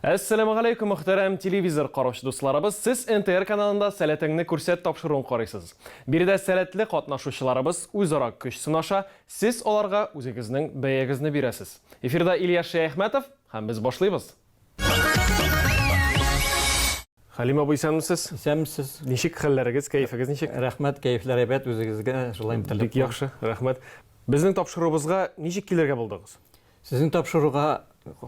Әссәләмә галәйкүм, мөхтәрәм телевизор караучы дусларыбыз. Сез НТР каналында сәләтеңне күрсәт тапшыруын карыйсыз. Биредә сәләтле катнашучыларыбыз үзара көч сынаша, сез аларга үзегезнең бәягезне бирәсез. Эфирда Ильяс Шәяхмәтов һәм без башлыйбыз. Хәлим абый, исәнмесез? Исәнмесез. Ничек хәлләрегез, кәефегез ничек? Рәхмәт, кәефләр әйбәт, үзегезгә шулай теләп. Бик яхшы, рәхмәт. Безнең тапшыруыбызга ничек килергә булдыгыз? Сезнең тапшыруга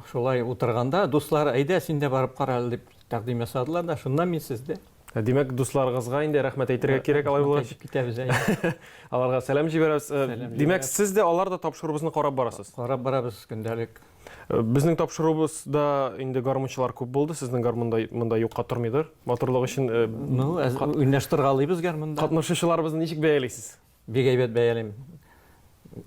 шулай утырганда, дуслар, әйдә, син дә барып кара әле дип тәкъдим ясадылар да, шуннан мин сездә. Ә, димәк, дусларыгызга инде рәхмәт әйтергә кирәк алай булгач. Әйтеп китәбез әйе. Аларга сәлам җибәрәбез. Димәк, сез дә алар да тапшыруыбызны карап барасыз? Карап барабыз көндәлек. Безнең тапшыруыбыз да инде гармунчылар күп булды. Сезнең гармунда монда юкка тормыйдыр. Матурлык өчен э, Ну, әз- Кат- уйнаштыргалыйбыз гармунда. катнашучыларыбызны ничек бәялисез? Бик әйбәт бәялим.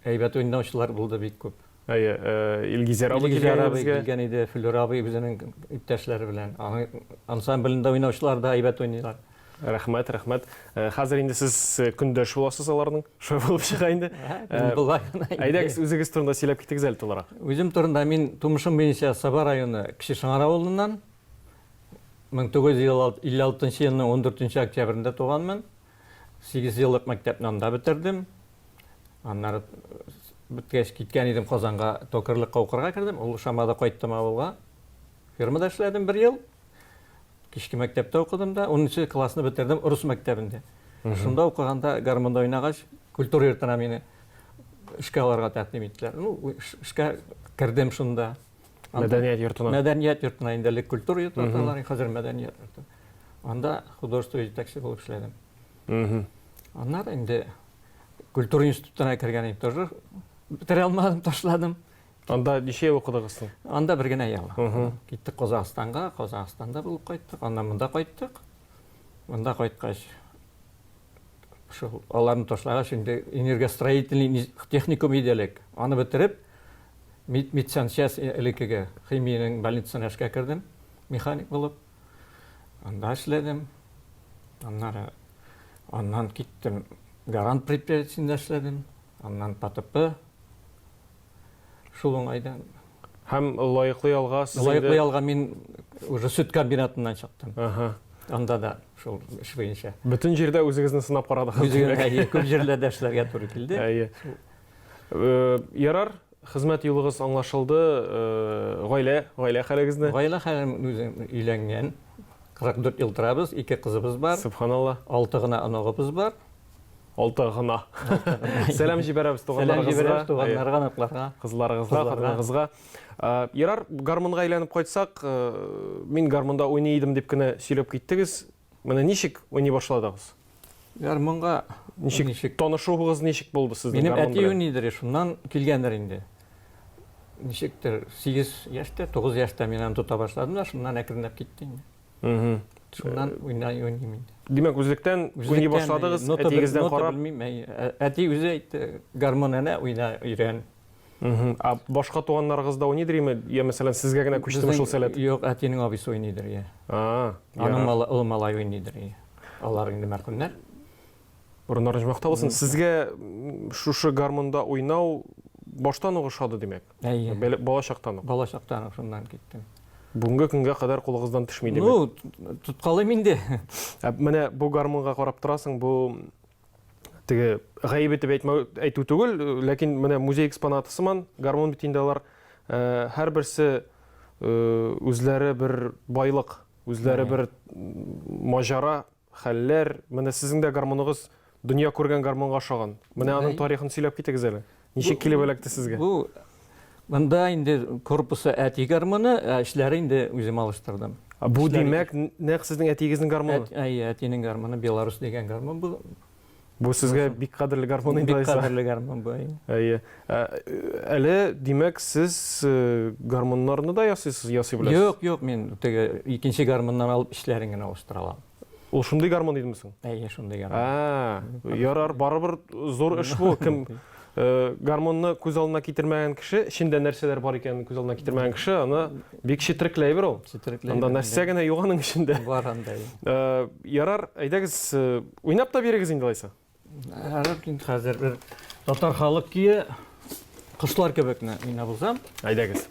Әйбәт уйнаучылар булды бик күп. Әйе, э, Илгизәр абый Илгизәр килгән абый безгә. килгән иде, Флюр абый үзенең иптәшләре белән. Аның ансамблендә уйнаучылар да әйбәт уйныйлар. Рәхмәт, рәхмәт. Э, хәзер инде сез э, көндәш буласыз аларның. Шулай булып чыга инде. Э, Болай гына. Әйдәгез, үзегез турында сөйләп китегез әле тулырак. Үзем турында мин тумышым буенча Саба районы Кече Шыңар авылыннан 1956 елның 14 октябрендә туганмын. 8 еллык мәктәпне анда бетердем. Аннары беткәч киткән идем Казанга, токарлыкка укырга кердем. Ул Шамада кайттым авылга. Фермада эшләдем бер ел. Кичке мәктәптә укыдым да, 10 классны бетердем рус мәктәбендә. Шунда укыганда гармонда уйнагач, культура йортына мине эшкә алырга тәкъдим иттеләр. Ну, эшкә кердем шунда. Мәдәният йортына. Мәдәният йортына инде элек культура йорты аталар, хәзер мәдәният йорты. Анда художество җитәкче булып эшләдем. Аннары инде культура институтына кергән идем тоже. Бетерә алмадым, ташладым. Анда ничә ел укыдыгыз соң? Анда бер генә ел. Киттек Казахстанга, Казахстанда булып кайттык, аннан монда кайттык. Монда кайткач, шул аларны ташлагач, инде энергостроительный техникум иде элек. Аны бетереп, медсанчасть э, элеккеге химиянең больницасына эшкә кердем, механик булып. Анда эшләдем. Аннары аннан киттем, гарант предприятиесендә эшләдем. Аннан ПТП Шул уңайдан. Һәм лаеклы ялга сез инде Лаеклы ялга мин уже сөт комбинатыннан чыктым. Аһа. Анда да шул эш буенча. Бөтен җирдә үзегезне сынап карадыгыз. Үзегезне, әйе, күп җирләрдә эшләргә туры килде. Әйе. Ярар, хезмәт юлыгыз аңлашылды. Гаилә, гаилә хәлегезне? Гаилә хәлем, үзем өйләнгән. 44 ел торабыз, ике кызыбыз бар. Сөбханалла. Алты гына оныгыбыз бар. Алты гына. Сәлам җибәрәбез туганнарыгызга. Туганнарга, оныкларга. Кызларыгызга, хатыныгызга. Ерар, гармунга әйләнеп кайтсак, мин гармунда уйный идем дип кенә сөйләп киттегез. Менә ничек уйный башладыгыз? Гармунга ничек ничек? Танышуыгыз ничек булды сезнең гармун белән? Минем әти уйныйдыр, шуннан килгәндер инде. Ничектер, 8 яшьтә, 9 яшьтә мин аны тота башладым да, шуннан әкренләп китте инде. Шуннан уйнай уйныйм инде. Димәк, үзлектән уйный башладыгыз, әтигездән карап. Белмим, әти үзе әйтте, гармон әнә уйна, өйрән. Ә башка туганнарыгыз да уйныйдыр име? Я, мәсәлән, сезгә генә күчтеме шул сәләт? Юк, әтинең абыйсы уйныйдыр, я. А. Аның малы, ул малай уйныйдыр, я. Алар инде мәрхүмнәр. Урыннарыгыз мактаулы булсын. Сезгә шушы гармонда уйнау баштан ук ошады, димәк? Әйе. Бәле, бала чактан ук. Бала чактан ук шуннан киттем. Бүгенге көнгә кадәр кулыгыздан төшми димәк. Ну, тоткалыйм инде. Ә менә бу гармунга карап торасың, бу теге гаебе дип әйтмәү әйтү түгел, ләкин менә музей экспонаты сыман гармун бит инде алар э, һәрберсе э, үзләре бер байлык, үзләре бер маҗара хәлләр, менә сезнең дә гармуныгыз дөнья күргән гармунга ошаган. Менә аның тарихын сөйләп китегез әле. Ничек килеп эләкте сезгә? Бу монда инде корпусы әти гармуны, ә эчләре инде үзем алыштырдым. Бу димәк, нәкъ сезнең әтиегезнең гармуны? Әйе, әтинең гармуны, Беларусь дигән гармун бу. Бу сезгә бик кадерле гармун инде, Айса. Бик кадерле гармун бу. Әйе. Ә, әле, димәк, сез э, гармуннарны да ясыйсыз, ясый беләсез? Юк, юк, мин теге икенче гармуннан алып эшләрен генә алыштыра алам. Ул шундый гармун идеме соң? Әйе, шундый гармун. Ә, ярар, барыбер зур эш бу. Кем Э, гармонны күз алдына китермәгән кеше эчендә нәрсәләр бар икәнен күз алдына китермәгән кеше аны бик четерекләй бер ул четерекләй анда нәрсә генә юк аның эчендә бар анда э, ярар әйдәгез э, уйнап та бирегез инде алайса ярар инде хәзер бер татар халык көе кошлар кебекне уйнап узам әйдәгез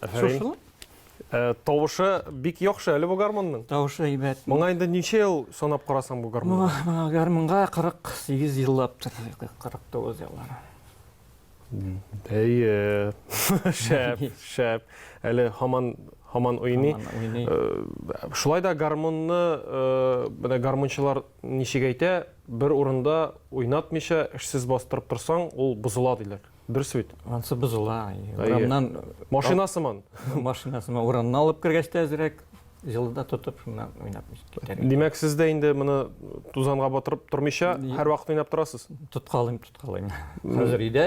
Афәрин. Э, тавышы бик яхшы әле бу гармонның. Тавышы әйбәт. Моңа инде ничә ел санап карасаң бу гармон? Моңа гармонга 48 еллаптыр, 49 еллар. Әйе. Шәп, шәп. Әле һаман һаман уйный. Э, шулай да гармонны э, менә гармончылар ничек әйтә, бер урында уйнатмыйча эшсез бастырып торсаң, ул бозыла диләр. Бер сүт, ансы бозыла. Урамнан машина сыман. Машина сыман урамнан алып кергәч тә әзрәк җылыда тотып шуннан уйнап китәр. Димәк, сез дә инде моны тузанга батырып тормыйча һәрвакыт уйнап торасыз? Тоткалыйм, тоткалыйм. Хәзер өйдә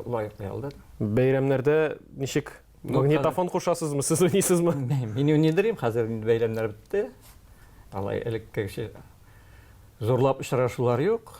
лаеклы ялда. Бәйрәмнәрдә ничек? Магнитофон кушасызмы, сез уйныйсызмы? Мин уйныйдырым, хәзер инде бәйрәмнәр бетте. Алай элеккечә зурлап очрашулар юк.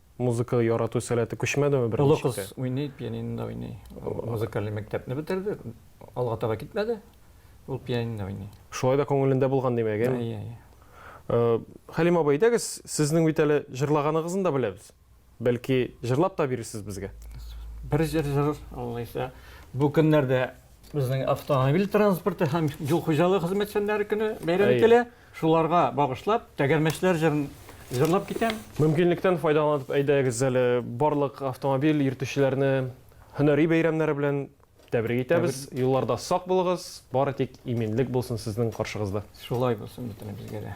Музыка ярату сәләте күчмәдеме беренче? Олы кыз уйный, пианинода уйный. Музыкальный мәктәпне бетерде, алга таба китмәде. Ул пианинода уйный. Шулай да күңелендә булган димәк, әйеме? Әйе, әйе. Э, Хәлим абый, әйдәгез, сезнең бит әле җырлаганыгызны да беләбез. Бәлки җырлап та бирерсез безгә? Бер җыр җыр, аллайса. Бу көннәрдә безнең автомобиль транспорты һәм юл хуҗалыгы хезмәтчәннәре көне бәйрәм ителә. Шуларга багышлап Тәгәрмәчләр җырын җырлап китәм. Мөмкинлектән файдаланып әйдәгез әле барлык автомобиль йөртүчеләрне һөнәри бәйрәмнәре белән тәбрик итәбез. Юлларда сак булыгыз, бары тик иминлек булсын сезнең каршыгызда. Шулай булсын бөтенебезгә дә.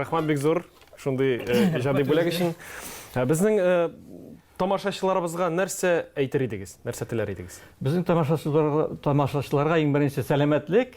рәхмәт бик зур шундый э, иҗади бүләк өчен ә безнең э, тамашачыларыбызга нәрсә әйтер идегез нәрсә теләр идегез безнең тамашачыларга тамашачыларга иң беренче сәламәтлек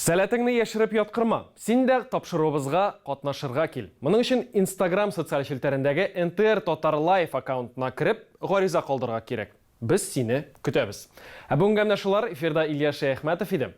Сәләтеңне яшереп яткырма. Син дә тапшыруыбызга катнашырга кил. Моның өчен Instagram социаль челтәрендәге NTR Татар Live аккаунтына кереп, гариза калдырырга кирәк. Без сине көтәбез. Ә бүгенгә менә шулар. Эфирда Илья Шәяхмәтов иде.